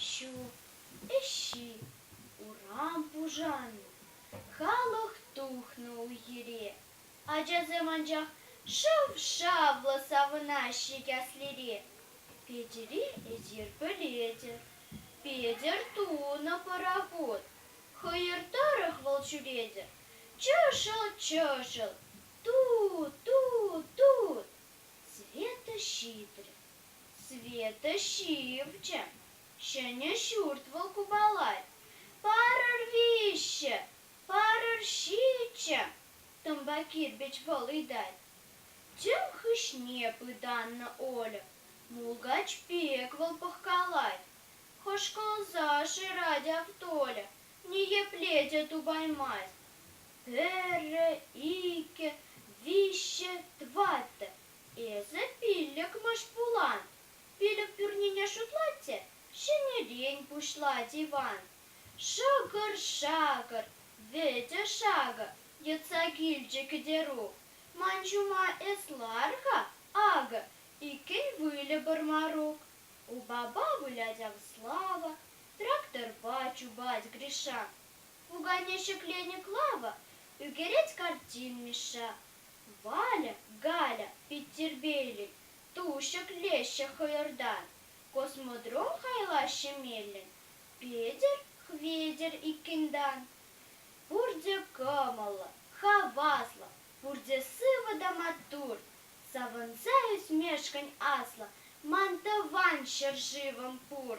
Ҫу, ӗҫҫи, урам пушаннӑ, халӑх тухнӑ уйӑре. Ачасем анчах шав-шавлӑ савӑнаҫҫӗ Каслире. Петӗре эсир пӗлетӗр, Петӗр тунӑ пӑрахут. Хӑйӑр тӑрӑх вӑл ҫӳретӗр, чӑшӑл-чӑшӑл, Ту-ту-тут! Света ҫитрӗ. Света ҫивчӗ. Ҫӗнӗ ҫурт вӑл купалать. Парӑр виҫҫӗ! Парӑр ҫиччӗ! Тӑмпа кирпӗч вӑл ыйтать. Тӗм хыҫне пытаннӑ Оля. Мулкач пек вӑл пӑхкалать. Хӑшкӑлса шырать ав Толя. Ниепле те тупаймасть. Пӗрре, иккӗ, виҫҫӗ, тӑваттӑ. Эсӗ пиллӗкмӗш пулан. Пилӗк пӳрнине шутлать те ҫӗнӗрен пуҫлать Иван. Шӑкӑр-шакӑр, вӗтӗ-шакӑр йӑтса килчӗ Кӗтерук. Ман ҫума эс лар-ха, акӑ, иккӗн выльӑпӑр Марук. У баба вылять ав слава, тракторпа чупать Гриша. Пукане ҫӗкленӗ Клава, ӳкерет картин Мишша. Валя, Галя пит тирпейлӗн, ту ҫӗклеҫҫӗ хӑйӑртан. Космодром хайлаҫҫӗ меллӗн, Петӗр, Хветӗр иккӗн-тан. Пурте кӑмӑллӑ, хаваслӑ, пурте сывӑ та маттур, Савӑнса ӳсмешкӗн аслӑ ман тӑван ҫӗршывӑм пур.